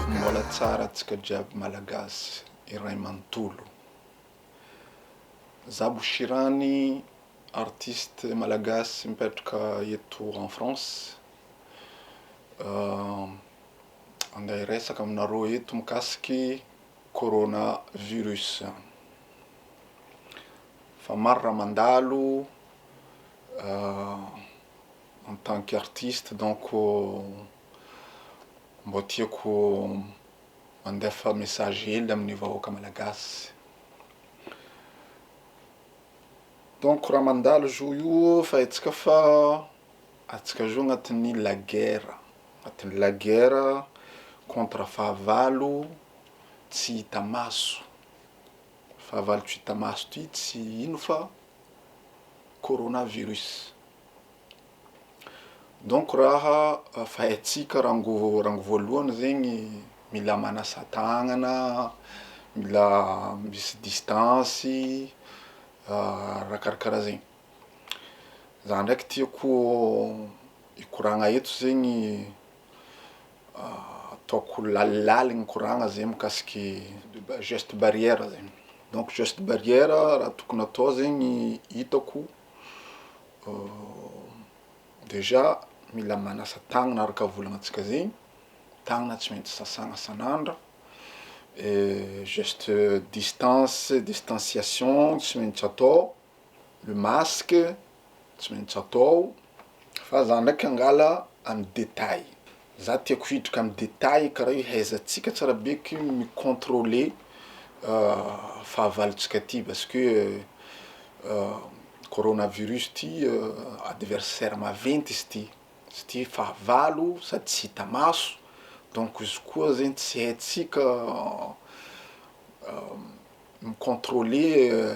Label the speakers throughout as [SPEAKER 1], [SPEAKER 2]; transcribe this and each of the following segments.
[SPEAKER 1] Mbola tsara atsika jiaby malagasy iray manontolo. Za Bouchirany artiste malagasy mipetraka eto en France. Andeha hiresaka aminareo eto mikasiky corona virus. Fa maro raha mandalo en tant que artiste donc mbô tiako mandefa message hely amin'ny vahoaka malagasy. Donc raha mandalo zo io fa haintsika fa Atsika zao agnatin'ny la guerre, agnatin'ny la guerre contre fahavalo tsy hita maso, fahavalo tsy hita maso ty tsy ino fa corona virus, donc raha fahaitsika rango rango voalohany zegny mila manasa tagnana, mila misy distance, raha karakaraha zegny. Za ndraiky tiako hikoragna eto zegny ataoko lalilaliy ny koragna zegny mikasiky geste barrière zegny, donc geste barrière raha tokony atao zegny hitako déjà mila manasa tagnana araka volagnintsika zegny, tagnana tsy maintsy sasagna isan'andro, geste distance, distanciation tsy maintsy atao. Le masque tsy maintsy atao, fa za ndraiky angala amin'ny détail, za tiako hiditra amin'ny détail karaha io haizantsika tsara be ko mi controler fahavalontsika ty parce que corona virus ty adversaire maventy izy ty, izy ty fahavalo sady tsy hita maso, donc izy koa zegny tsy haintsika mi controler.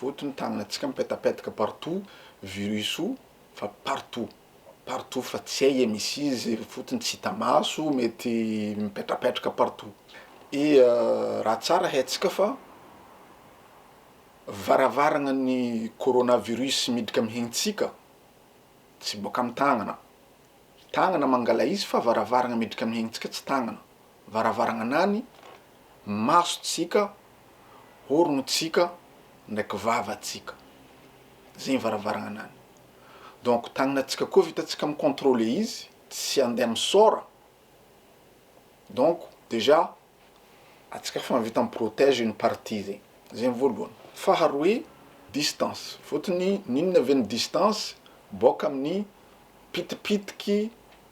[SPEAKER 1] Voto ny tananantsika mipetapetaka partout virus o fa partout partout fa tsy hay e misy izy fotony tsy hita maso mety mipetrapetraka partout e raha tsara haintsika fa varavarana ny corona virus miditra am hentsika tsy boaka am tagnana tagnana mangala izy fa varavarana miditra am hentsika tsy tagnana Varavaranganany, masotsika, oronotsika, ndraiky vavatsika. Zegny varavaranganany. Donc tagnanatsika koa vitantsika mi controler izy tsy andeha misaora. Donc déjà atsika efa vita mi protège une partie zegny. Zegny voalohany. Faharoe, distance. Fôtony n'inona ve ny distance? Bôka amin'ny pitipitiky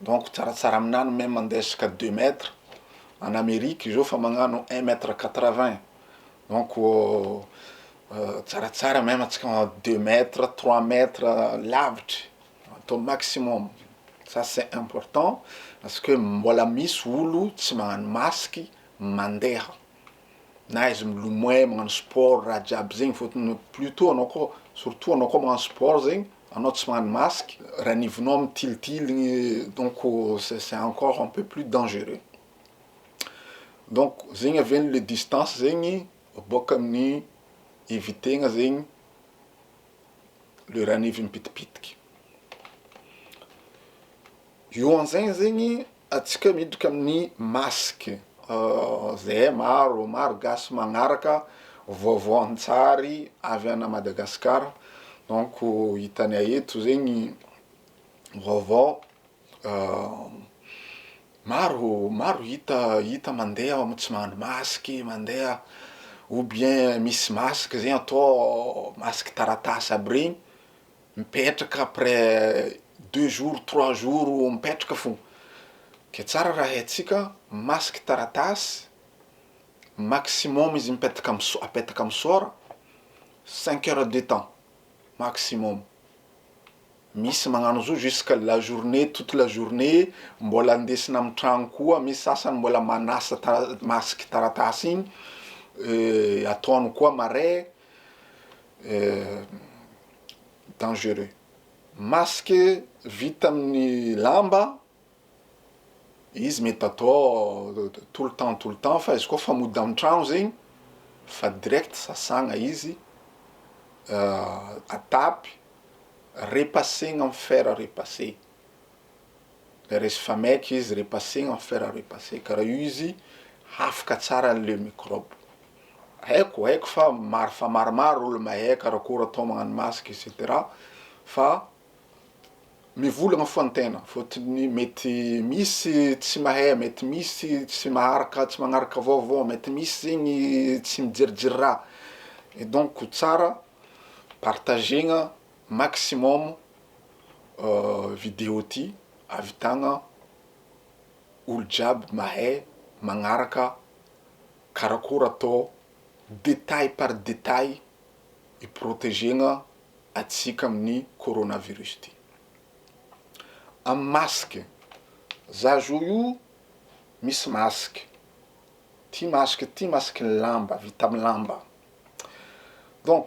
[SPEAKER 1] donc tsaratsara aminah ny meme mandeha jusqu'à deux mètres any Amerique izy eo fa magnano un mètre quatre vingt donc tsaratsara meme antsika magnano deux mètres trois mètres lavitry atao maximum ça c'est important parce que mbola misy olo tsy magnano masque mandeha. na izy milomay magnano sport raha jiaby zegny fôtony plus tout anao kô surtout anao kô magnano sport zegny anao tsy magnano masque ranivognao mitilitiligny donc c'est c'est encore un peu plus dangereux donc zegny avy eo le distance zegny bôka amin'ny éviter-gna zegny le ranivo mipitipitiky eo anzegny zegny Atsika miditra amin'ny masque. Zay maro, maro gasy magnaraka vaovao an-tsary avy ana Madagascar donc hitanay eto zegny vaovao maro maro hita hita mandeha ao tsy mahandro masque mandeha ou bien misy masque zegny atao masque taratasy aby regny. mipetraka après deux jours trois jours mipetraka fo ke tsara raha haintsika masque taratasy maximum izy mipetaka am sora apetaka am sora cinq heures de temps maximum misy magnano zao jusque la journée toute la journée mbola ndesina am tragno koa misy sasany mbola manasa tara- masque taratasy igny ataony koa marais dangereux. Masque vita amin'ny lamba izy mety atao tout le temps tout le temps fa izy koa fa mody an-trano zegny fa direct sasagna izy atapy repasegna am fer repase. Resy fa maika izy repasser en fer à repasser karaha io izy hafaka tsara anle microbe. Haiko haiko fa maro fa maromaro olo mahay karakory atao magnano masque et cetera fa mivolagna fo an-tegna fôtony mety misy tsy mahay mety misy tsy maharaka tsy magnaraka vaovao mety misy zegny tsy mijerijery raha et donc tsara partagena Maximum video ty avitagna olo jiaby mahay magnaraka karakôry atô detail par detail iprotegegna atsika aminy coronavirus ty am masque za zo io misy masque ty masque ty masque lamba vita am lamba donc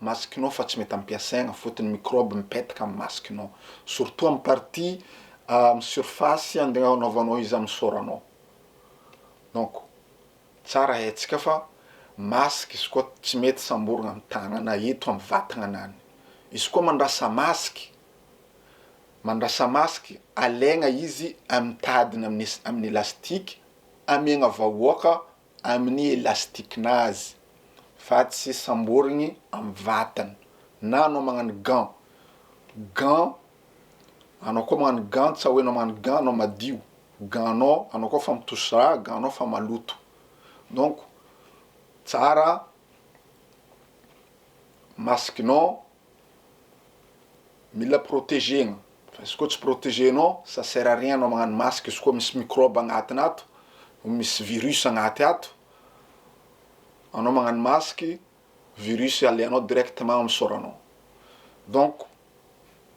[SPEAKER 1] Masikinao fa tsy mety ampiasaigna fotony ny microbe mipetaka amin'ny masikinao surtout amin'ny partie amin'ny surface andeha anaovanao izy amin'ny soranao donc tsara haintsika fa masque izy koa tsy mety samborigna amin'ny tagnana eto amin'ny vatagna nany izy koa mandrasa masque mandrasa masque alaigna izy amin'ny tadiny amin'ny elastique amiagna vahoaka amin'ny elastikinazy fa tsy samborigny amin'ny vatany na anao magnano gant, gant anao koa magnano gant tsa hoe anao magnano gant anao madio, gant anao anao koa fa mitosy raha, gant anao fa maloto donc tsara masikinao Mila protégena fa izy koa tsy protégé nao ça sert à rien anao magnano masque izy koa misy microbe agnatiny ato, misy virus agnaty ato, anao magnano masque virus alehanao directement amin'ny sôranao, donc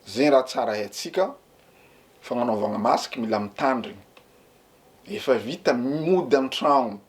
[SPEAKER 1] zegny raha tsara haintsika fagnanaovagna masque mila mitandrigny, efa vita mody an-tragno.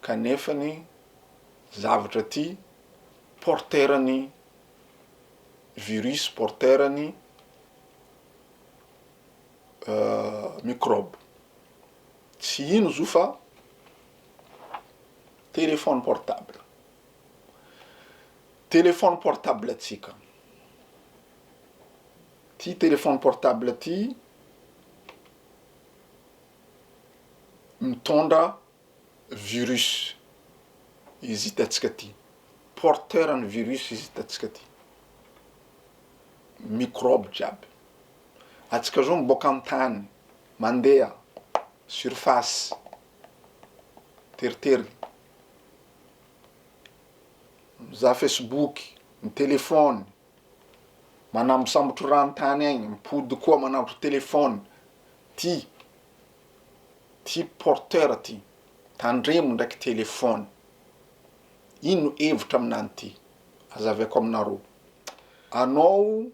[SPEAKER 1] kanefa ny zavatra ty porter ny virus porter ny microbe tsy ino zo fa telephone portable telephone portable tsika ty telephone portable ty mitondra virus izy hitantsika aty, porteur an'ny virus izy hitantsika aty, mikrôby jiaby, antsika zao miboaka an-tany mandeha surface teritery, mizaha facebook, mitelefaony. manambosambotro rano tany aigny mipody koa manambotro telephone ty ty porteur ty tandremo ndraiky telephone ino hevitra aminany ty azaveko aminareo anao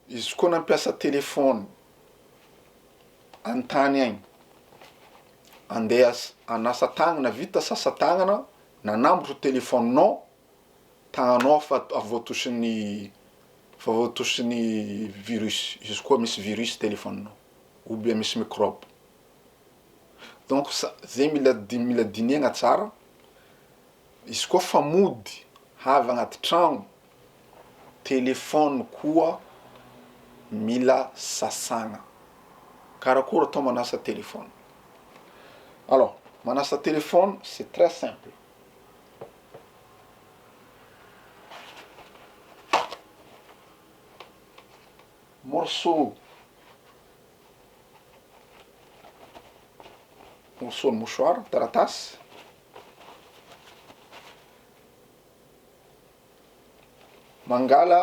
[SPEAKER 1] izy koa nampiasa telephone antany aigny andeha hanasa tagnana vita sasa tagnana nanambotro telephone nao Tahanao aho fa avy voatosin'ny fa avy voatosin'ny virus, izy koa misy virus téléphone-nao ou bien misy microbe. Donc sa- zay mila di- mila dinihagna tsara, izy koa fa mody havy agnaty tragno, téléphone koa mila sasagna. Karakory atao manasa téléphone? Alors, manasa téléphone c'est très simple. Morceau, morceau ny mouchoir, taratasy, mangala.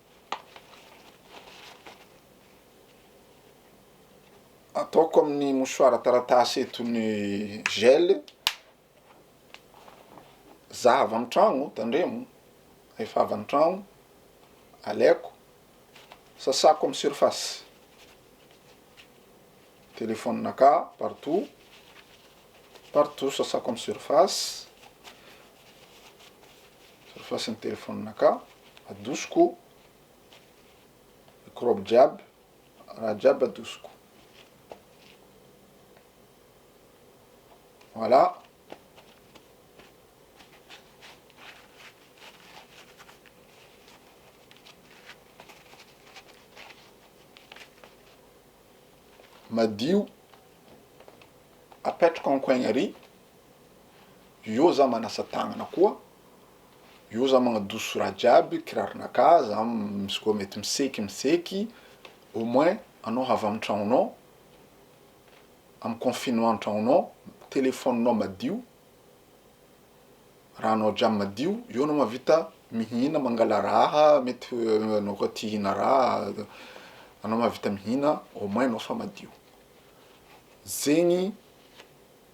[SPEAKER 1] ataoko amin'ny mosoara taratasy eto ny gel za avy any tragno tandremo rehefa avy any tragno alaiko sasako amin'ny surface telephone-nakà partout partout sasako amin'ny surface. Surface ny telephone ka adosiko microbe jiaby raha jiaby adosiko voilà madio apetrako en coin ary Eo za manasa tagnana koa, eo za magnadoso raha jiaby, kiraronakà, za misy koa mety miseky miseky, au moins anao havy amin'ny tragnonao, amin'ny confinement an-tragnonao, telefaoninao madio, rahanao jiaby madio, eo anao mahavita mihina, mangala raha, mety anao koa te hihina raha, anao mahavita mihina, au moins anao fa madio. Zegny.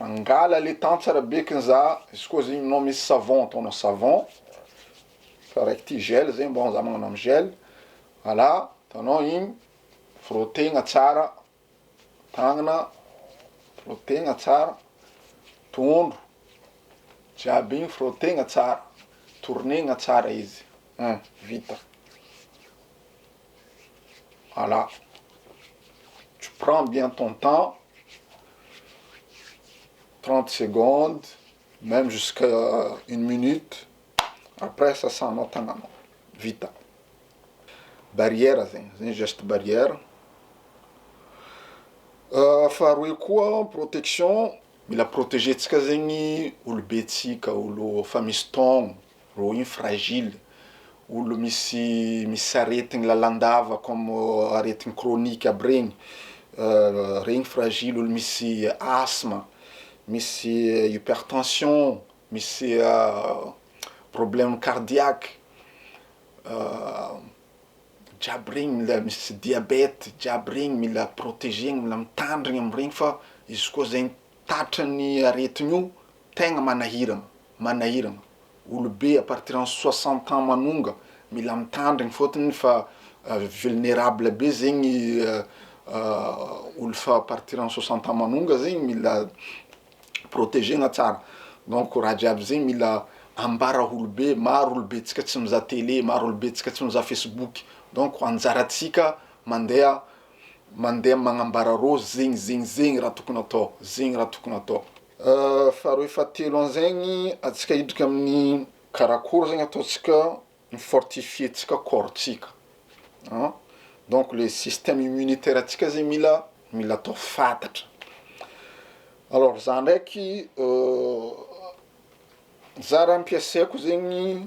[SPEAKER 1] Mangala le temps tsara be kin za, izy koa zegny nao misy savon ataonao savon, fa raiky ty gel zegny bon za magnano am gel, alà ataonao igny, frotegna tsara tagnana, frotegna tsara tondro, jiaby igny frotegna tsara, tournegna tsara izy, hein vita. Voilà. Tu prends bien ton temps, 30 secondes, même jusqu'à une minute, après sasanao tagnanao. Vita. Barrière zegny, zegny geste barrière. Euh, faharoe koa protection, mila protéger-tsika zegny olobentsika, olo fa misy taogno. Rohy fragile, olo misy misy aretigny lalandava comme aretigny chronique aby regny, regny fragile, olo misy asthme, misy hypertension, misy problème cardiaque, jiaby regny mila misy diabète, jiaby regny mila protegena, mila mitandrigna am regny fa izy koa zegny tratry ny aretigny io Tegna manahiragna, manahiragna, olobe à partir en soixante ans manonga mila mitandrigny fôtony fa vulnerable be zegny olo fa à partir en soixante ans manonga zegny mila protegena tsara donc raha jiaby zegny mila ambara olobe maro olobe tsika tsy mizaha tele maro olobe tsika tsy mizaha facebook donc anjaratsika mandeha mandeha magnambara rô zegny zegny zegny raha tokony atao zegny raha tokony atao. Faharoe fahatelo anzegny atsika hidrika amin'ny karakôry zegny ataontsika mi fortifier tsika corps tsika an, donc le système immunitaire tsika zegny mila mila atao fantatra, alors za ndraiky za raha ampiasaiko zegny.